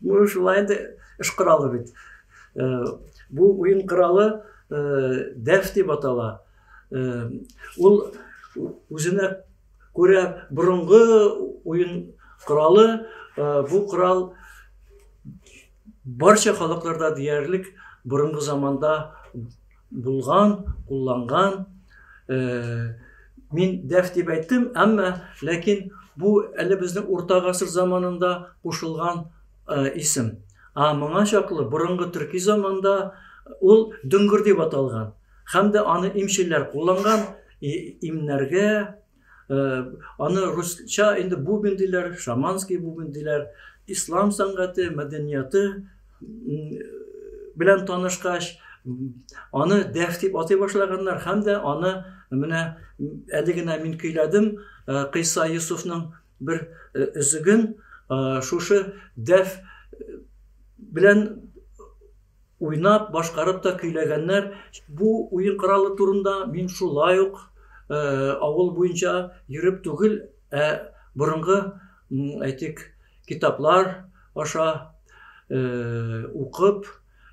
Бу шулай инде эш коралы бит. Бу уен коралы дәф дип атала. Ул үзенә күрә борынгы уен коралы, бу корал барча халыкларда диярлек борынгы заманда Булган, кулланган. Э, мин дәф дип әйттем, әмма ләкин бу әле безнең урта гасыр заманында кушылган э, исем. А моңа чаклы борынгы төрки заманда ул дөңгер дип аталган. Һәм дә аны имчеләр кулланган имнәргә, Аны русча инде бубен диләр, шаманский бубен диләр. Ислам сәнгате, мәдәнияты белән танышкач, аны дәф дип атый башлаганнар һәм дә аны менә әле генә мин көйләдем Кыйса Юсуфның бер өзеген шушы дәф белән Уйнап, башкарып та көйләгәннәр. Бу уен коралы турында мин шулай ук авыл буенча йөреп түгел, ә борынгы, әйтик, китаплар аша укып,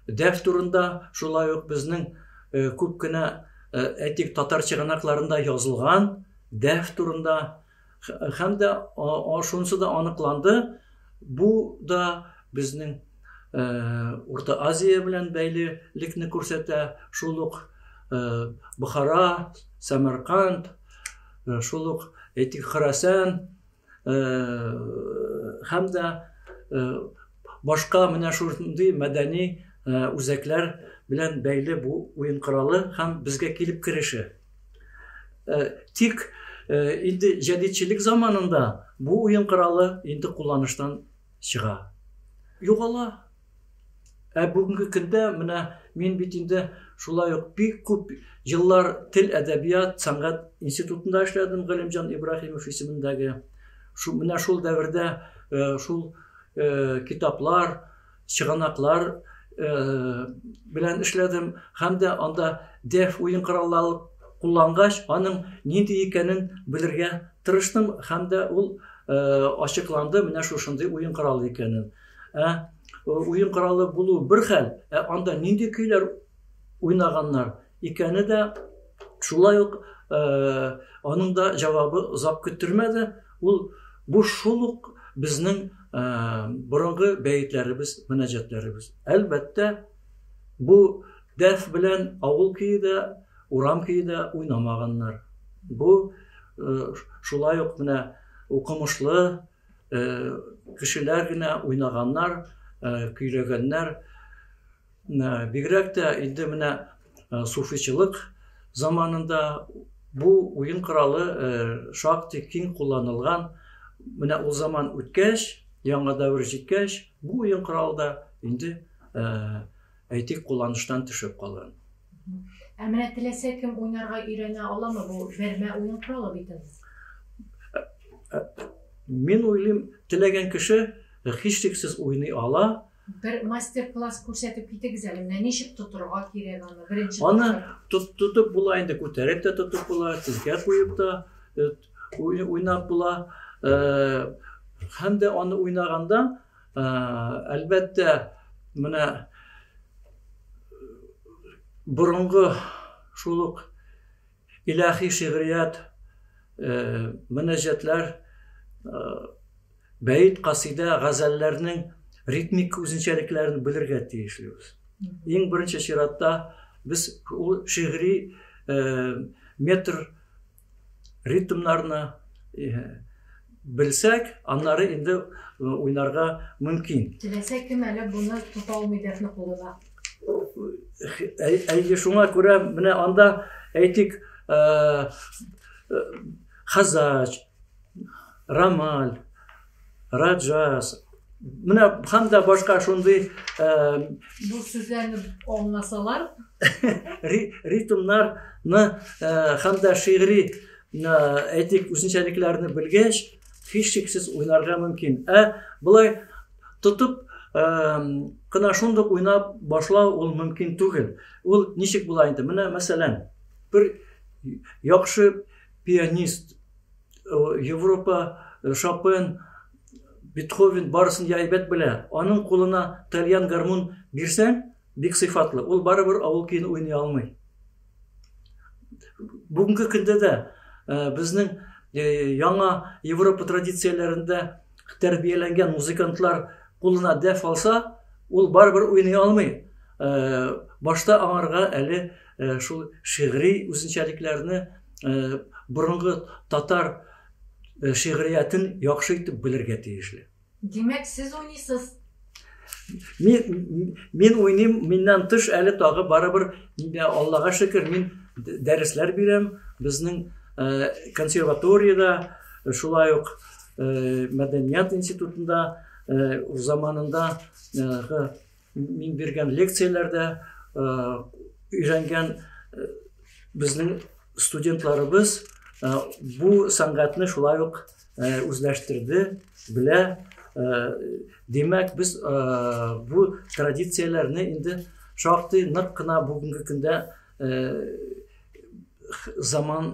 дәф турында шулай ук безнең күп кенә, әйтик, татар чыганакларында язылган дәф турында Һәм дә шунысы да аныкланды, бу да безнең Урта Азия белән бәйлелекне күрсәтә, шул ук Бохара, Сәмәрканд, шул ук әйтик Хөрәсән һәм дә башка менә шундый мәдәни үзәкләр белән бәйле бу уен коралы һәм безгә килеп кереше. Э, тик э, инде җәдидчелек заманында бу уен коралы инде кулланыштан чыга. Югала. Ә бүгенге көндә менә мин бит инде шулай ук бик күп еллар тел әдәбият сәнгать институтында эшләдем Галимҗан Ибраһимов исемендәге. Шу, менә шул дәвердә э, шул китаплар, чыганаклар белән эшләдем һәм дә анда деф уен коралларын куллангач, аның нинди икәнен белергә тырыштым һәм дә ул ачыкланды, менә шушындый уен коралы икәнен. Ә уен коралы булу бер хәл, ә анда нинди көйләр уйнаганнар, Икәне дә шулай ук аның да җавабы озак көттермәде. Ул бу шул ук безнең борынгы бәетләребез, мөнәҗәтләребез. Әлбәттә, бу дәф белән авыл көе дә, урам көе дә уйнамаганнар. Бу шулай ук менә укымышлы кешеләр генә уйнаганнар, көйләгәннәр. Бигрәк тә инде менә суфичылык заманында бу уен коралы шактый киң кулланылган. Менә ул заман үткәч, яңа дәвер җиткәч, бу уен коралы да инде, әйтик, кулланыштан төшеп калган. Ә менә теләсә кем уйнарга өйрәнә аламы? Бу бәрмә уен коралы бит инде. Мин уйлыйм, теләгән кеше һичшиксез уйный ала. Бер мастер класс күрсәтеп китегез әле, менә ничек тотырга кирәк аны, беренче Аны тотып була инде, күтәреп тә тотып була, тезгә куеп та э, уйнап була. Э, һәм дә аны уйнаганда, э, әлбәттә, менә борынгы шул ук Илаһи шигърият, мөнәҗәтләр, бәет-касыйдә, газәлләрнең ритмик үзенчәлекләрен белергә тиешлебез. Иң беренче чиратта без ул шигъри метр ритмнарны белсәк, аннары инде уйнарга мөмкин. Теләсә кем әле буны тота алмый дәртне кулына. Әйе, шуңа күрә менә анда әйтик, хазач, рамаль, раджас, менә һәм дә башка шундый бу сүзләрне аңласалар ритмнарны һәм дә шигъри әйтик үзенчәлекләрне белгәч һичшиксез уйнарга мөмкин ә болай Тотып кына шундук уйнап башлау ул мөмкин түгел. Ул ничек була инде? Менә мәсәлән, бер яхшы пианист Европа Шопен, Бетховен барысын яйбәт белә. Аның кулына тальян гармун бирсәң, Бик сыйфатлы. Ул барыбер авыл көен уйный алмый. Бүгенге көндә дә безнең яңа Европа традицияләрендә тәрбияләнгән музыкантлар кулына дәф алса, ул барыбер уйный алмый. Башта аңарга әле шул шигъри үзенчәлекләрне, борынгы татар шигъриятен яхшы итеп белергә тиешле. Димәк, сез уйныйсыз? Мин, мин уйныйм, миннән тыш әле тагы барыбер, Аллага шөкер, мин дәресләр бирәм, безнең э, консерваториядә, э, шулай ук э, мәдәният институтында заманында Мин биргән лекцияләрдә өйрәнгән безнең студентларыбыз бу сәнгатьне шулай ук үзләштерде, белә. Димәк, без бу традицияләрне инде шактый нык кына бүгенге көндә заман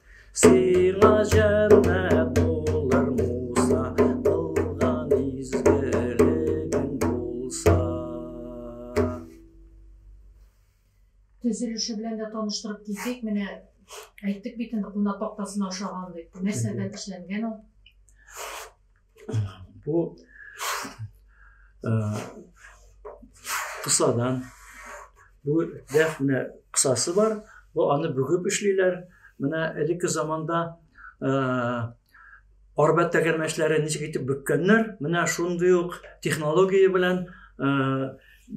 Сиңа җәннәт булыр Муса, кылган изгелегең булса. Төзелеше белән дә таныштырып китик. Менә әйттек бит инде, кунак тактасына ошаган дип. Нәрсәдән эшләнгән ул? Bu e, кысадан бу дәф менә кысасы бар бу аны бүгеп эшлиләр менә элекке заманда э, арбат тәгәрмәчләре ничек итеп бөккәннәр менә шундый ук технология белән э,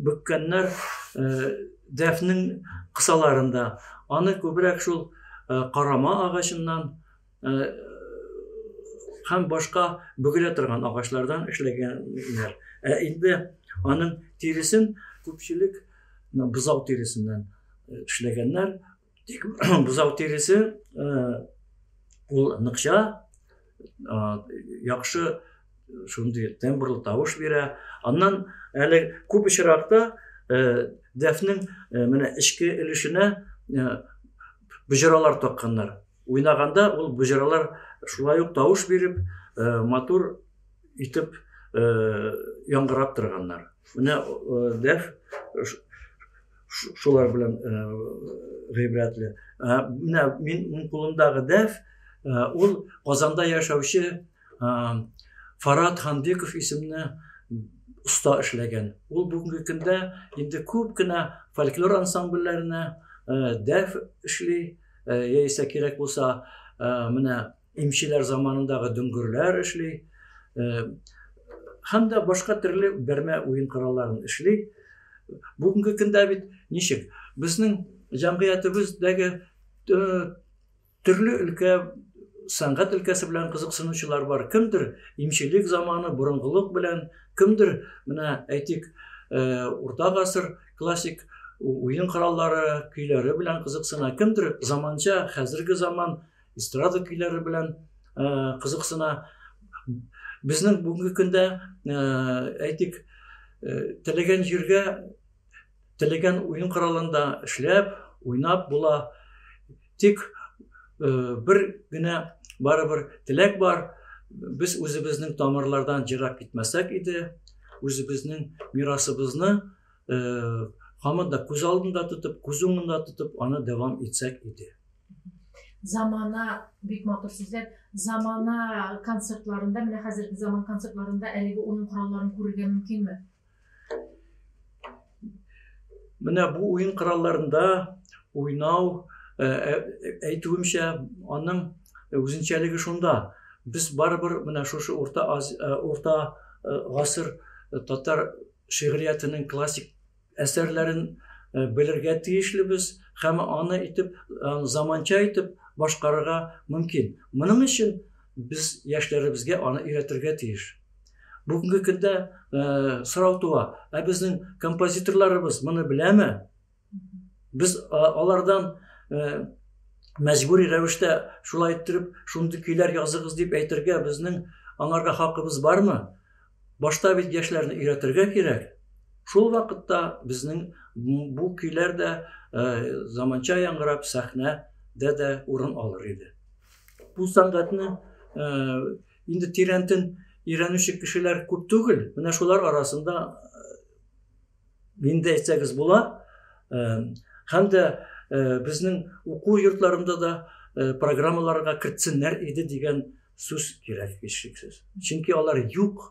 бөккәннәр э, дәфнең кысаларында аны күбрәк шул карама агачыннан һәм башка бөгелә торган агачлардан эшләгәннәр. Ә инде аның тиресен күпчелек бозау тиресеннән эшләгәннәр. Тик бозау тиресе ул ныкча, яхшы шундый тембрлы тавыш бирә. Аннан әле күп очракта дәфнең менә эчке өлешенә бөҗралар такканнар. Уйнаганда ул боҗралар шулай ук тавыш биреп, матур итеп яңгырап торганнар. Менә дәф шулар белән гыйбрәтле. Менә мин кулымдагы дәф ул Казанда яшәүче Фарат Ханбеков исемле оста эшләгән. Ул бүгенге көндә инде күп кенә фольклор ансамбльләренә дәф эшли. Э, яисә кирәк булса э, менә имчеләр заманындагы дөңгерләр эшли э, һәм дә башка төрле бәрмә уен коралларын эшли бүгенге көндә бит ничек безнең җәмгыятебездәге төрле өлкә сәнгать өлкәсе белән кызыксынучылар бар кемдер имчелек заманы борынгылык белән кемдер менә әйтик урта гасыр классик уен кораллары, көйләре белән кызыксына. Кемдер заманча, хәзерге заман эстрада көйләре белән кызыксына. Безнең бүгенге көндә әйтик, теләгән җиргә теләгән уен коралында эшләп, уйнап була. Тик бер генә барыбер теләк бар, без үзебезнең тамырлардан җирак китмәсәк иде, үзебезнең мирасыбызны һаман да күз алдында тотып, күз уңында тотып, аны дәвам итсәк иде. Замана бик матур сүзләр. Замана концертларында, менә хәзерге заман концертларында әлеге уен коралларын күрергә мөмкинме? Менә бу уен коралларында уйнау э, э, әйтүемчә, аның үзенчәлеге шунда. Без барыбер менә шушы урта э, урта гасыр татар шигъриятенең классик әсәрләрен белергә тиешлебез һәм аны итеп заманча итеп башкарырга мөмкин. Моның өчен без яшьләребезгә аны өйрәтергә тиеш. Бүгенге көндә ә, сорау туа, ә безнең композиторларыбыз моны беләме? Без ә, алардан ә, мәҗбүри рәвештә шулай иттереп, шундый көйләр языгыз дип әйтергә безнең аңарга хакыбыз бармы? Башта бит яшьләрне өйрәтергә кирәк. Шул вакытта безнең бу көйләр дә ә, заманча яңгырап сәхнәдә дә урын алыр иде. Бу сәнгатьне ә, Инде тирәнтен өйрәнүче кешеләр күп түгел. Менә шулар арасында нинди әйтсәгез була. Һәм дә безнең уку йортларында да программаларга кертсеннәр иде дигән сүз кирәк һичшиксез. Чөнки алар юк.